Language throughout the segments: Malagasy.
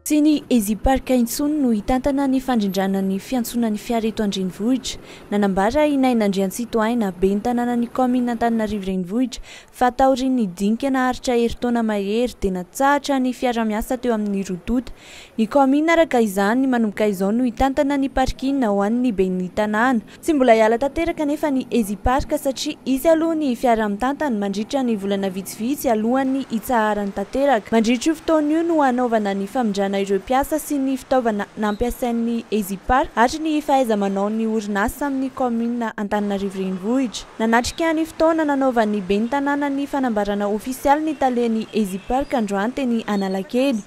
Tsy ny Eziparc intsony no hitantana ny fandrindrana ny fiantsoana ny fiara eto an-drenivohitra. Nanambara i Naina Andriantsitohaina, ben'ny tanànan'ny kaominina Antananarivo Renivohitra, fa taorian'ny dinika naharitra herintaona mahery dia natsahatra ny fiara-miasa teo amin'ny roa tonta ny kaominina. Araka izany, manomboka izao no hitantana ny parking ho an'ny ben'ny tanàna Tsy mbola hiala tanteraka anefa ny Ezipark satria hisy aloha ny fiara mitantana mandritra ny volana vitsivitsy alohan'ny hitsaharany tanteraka. Mandritra io fotoana io no hanaovana ny famindrana ireo mpiasa sy ny fitaovana nampiasain'ny Ezipark ary ny fahaiza-manaon'ny orinasa amin'ny kaominina Antananarivo Renivohitra. Nanatrika ny fotoana nanaovan'ny ben'ny tanàna ny fanambarana ofisialy ny talen'ny Ezipark androany teny Analakely.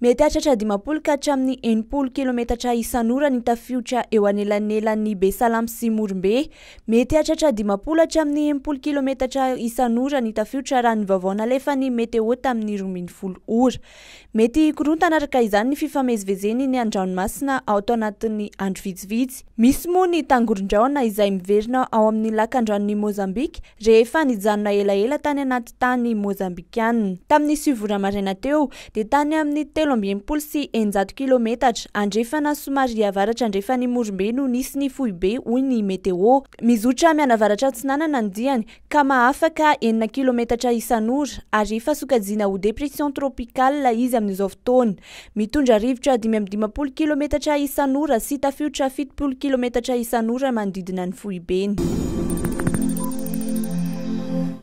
Mety hahatratra dimampolo ka hatramin'ny enimpolo kilometatra isan'ora ny tafiotra eo anelanelan'ny Besalamy sy Morombe. Mety hahatratra dimampolo hatramin'ny enimpolo kilometatra isan'ora ny tafiotra raha ny vaovao nalefan'ny Meteo tamin'ny roa ambin'ny folo ora. Mety hikorontana araka izany ny fifamezivezeny ny an-dranomasina ato anatin'ny andro vitsivitsy. Misy moa ny tangoron-drahona izay miverina ao amin'ny lakandranon'i Mozambika rehefa nijanona elaela tany anaty tany Mozambikana. Tamin'ny sivy ora maraina teo, dia tany amin'ny telo amby enimpolo sy eninjato kilometatra andrefana somary avaratra andrefan'i Morombe no nisy ny foibe, hoy ny Meteo. Mizotra mianavaratra atsinanana ny diany ka mahafaka enina kilometatra isan'ora ary efa sokajiana ho dépression tropicale izy amin'izao fotoana. Mitondra rivotra dimy amby dimampolo kilometatra isan'ora sy tafiotra fitopolo kilometatra isan'ora manodidina ny foibeny.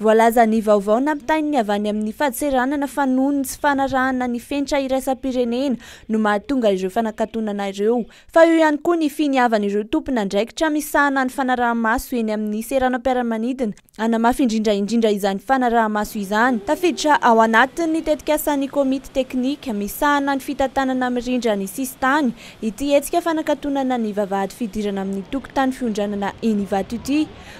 Voalaza ny vaovao nampitain'ny avy any amin'ny fadseranana fa noho ny tsy fanarahana ny fenitra iraisam-pirenena no mahatonga ireo fanakatonana ireo. Fa eo ihany koa ny finiavan'ireo tompon'andraikitra misahana ny fanaraha-maso eny amin'ny seranam-piaramanidina hanamafy indrindra indrindra izany fanaraha-maso izany. Tafiditra ao anatin'ny tetikasan'ny komity teknika misahana ny fitantanana mirindra ny sisintany ity hetsika fanakatonana ny vavahady fidirana amin'ny tokontany fiondranana eny Ivato ity.